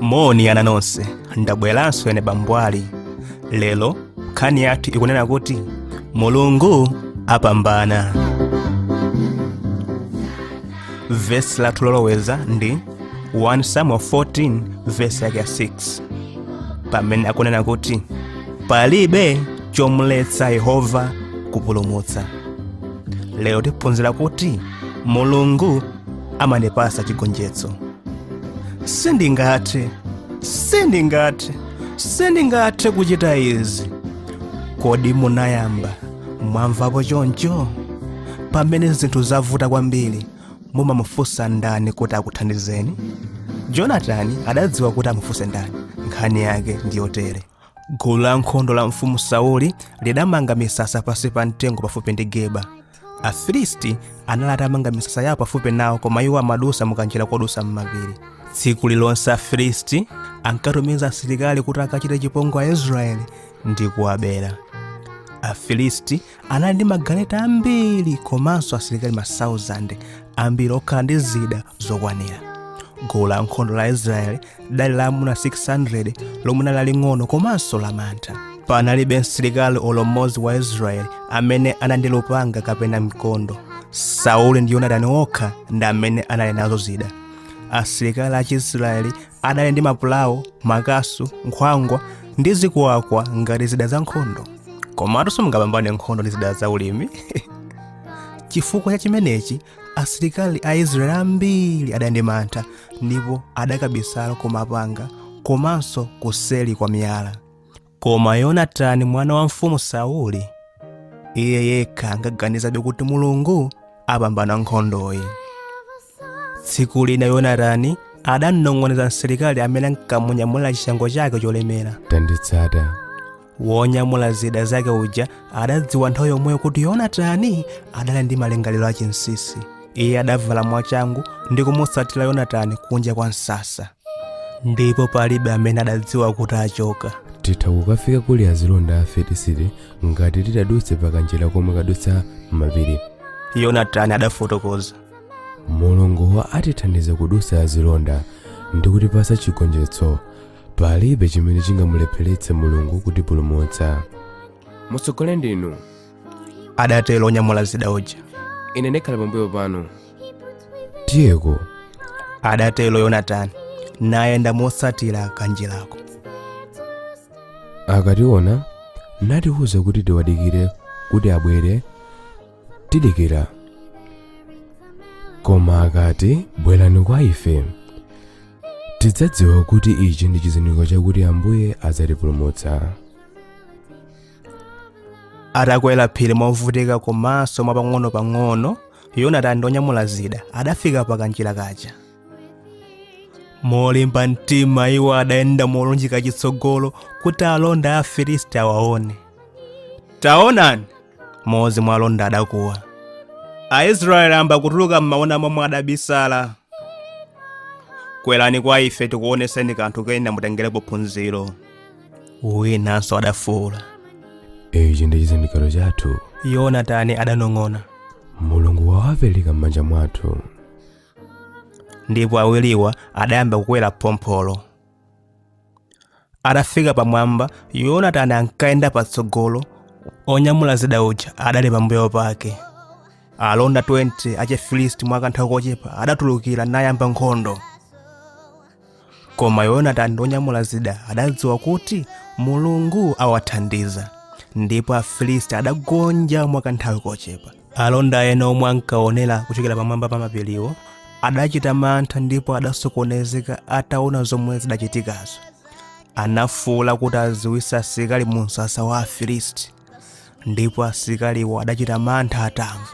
moni ana nonse ndabweranso ine bambwali lero nkhani yathu ikunena kuti mulungu apambana vesi lathu loloweza ndi 1 samuel 14 vesi yake ya 6 pamene akunena kuti palibe chomletsa yehova kupulumutsa lero tiphunzira kuti mulungu amandipasa chigonjetso sindingathe sindingathe sindingathe kuchita izi kodi munayamba mwamvapo choncho pamene zinthu zavuta kwambiri mumamufunsa ndani kuti akuthandizeni jonatani adadziwa kuti amufunse ndani nkhani yake ndiyotere gulu la nkhondo la mfumu sauli lidamanga misasa pansi pa mtengo pafupi ndi gibeya afilisti anali atamanga misasa yawo pafupi nawo koma iwo amadusa mukanjira kodusa m'mapiri tsiku lilonse afilisti ankatumiza asilikali kuti akachite chipongwe aisraeli ndi kuwabera afilisti anali ndi magaleta ambiri komanso asilikali masauzande ambiri okhala ndi zida zokwanira gulu la nkhondo la israeli lidali la amuna 600 lomwe linali laling'ono komanso lamantha panalibe msilikali olo mmodzi wa israeli amene anali ndi lupanga kapena mkondo sauli ndi yonatani okha ndi amene anali nazo zida asilikali a chiisraeli adali ndi mapulawo makasu nkhwangwa ndi zikuwakwa ngati zida za nkhondo komatu simungapambane nkhondo ndi zida za ulimi chifukwa cha chimenechi asilikali a israeli ambiri adali ndi mantha ndipo adakabisala ku mapanga komanso kuseli kwa miyala Koma Yonatani mwana wa mfumu Sauli, iye yekha ankaganizabe kuti Mulungu apambana nkhondoyi. Tsiku lina Yonatani adamnong'oneza msilikali amene ankamunyamulira chishango chake cholemera. tanditsata Wonyamula zida zake uja adadziwa nthawi yomweyo kuti Yonatani adali ndi malingaliro achinsinsi. iye adavala mwachangu ndi kumutsatira yonatani kunja kwa msasa ndipo palibe amene adadziwa kuti achoka titha kukafika kuli azilonda a afilisti ngati titadutse pakanjira komwe kadutsa m'mapiri yonatani adafotokoza mulungu atithandize kudutsa azilonda ndi kutipasa chigonjetso palibe chimene chingamulepheretse mulungu kutipulumutsa mutsogole ndinu adatero onyamula zida uja ine ndikhale pambuyo panu tiyeko adatero yonatani nayenda motsatira kanjirako akationa natiuza kuti tiwadikire kuti abwere tidikira koma akati bwerani kwa ife tidzadziwa kuti ichi ndi chizindikiro chakuti ambuye adzatipulumutsa atakwera phiri movutika komanso mwapang'ono-pang'ono yonatani ndi onyamula zida adafika pa kanjira kaja molimba mtima iwo adayenda molunjika chitsogolo kuti alonda a afilisti awaone taonani mmodzi mwa alonda adakuwa aisraeli ayamba kutuluka m'mauna momwe adabisala kwerani kwa ife tikuoneseni kanthu kena mutengerepo phunziro winanso adafuwula ichi ndi chizindikiro chathu yonatani adanong'ona mulungu wawapereka m'manja mwathu ndipo awiriwa adayamba kukwera phompholo atafika pamwamba yonatani ankayenda patsogolo onyamula zida uja adali pambuyo pake alonda 20 achifilisti mwa kanthawi kochepa adatulukira nayamba nkhondo koma yonatani ndi onyamula zida adadziwa kuti mulungu awathandiza ndipo afilisti adagonja mwa kanthawi kochepa alonda ena omwe ankaonera kuchokera pamwamba pa mapiriwo adachita mantha ndipo adasokonezeka ataona zomwe zidachitikazo anafuwula kuti adziwitse asilikali mu msasa wa afilisti ndipo asilikaliwo adachita mantha atamva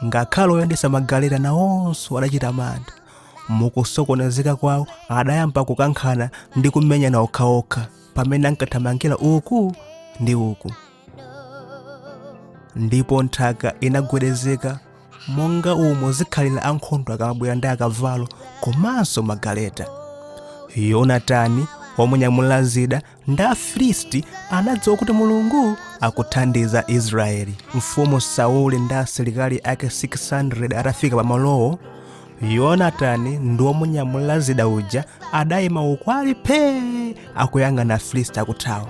ngakhale oyendesa magaleta nawonso adachita mantha mukusokonezeka kwawo adayamba kukankhana ndi kumenyana okhaokha pamene ankathamangira uku ndi uku ndipo nthaka inagwedezeka monga umo zikhalira ankhondo akamabwera ndi akavalo komanso magaleta yonatani womunyamulira zida ndi afilisti anadziwa kuti mulungu akuthandiza israeli mfumu sauli ndi asilikali ake 600 atafika pamalowo yonatani ndi womunyamulira zida uja adayima uku ali phee akuyang'ana afilisti akuthawa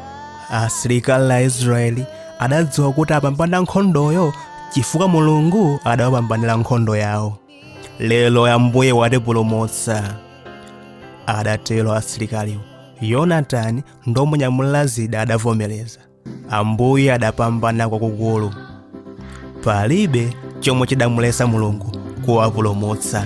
asilikali a israeli adadziwa kuti apambana nkhondoyo chifukwa mulungu adawapambanira nkhondo yawo lero ambuye watipulumutsa adatero asilikaliwo yonatani ndi womunyamulira zida adavomereza ambuye adapambana kwakukulu palibe chomwe chidamuletsa mulungu kuwapulumutsa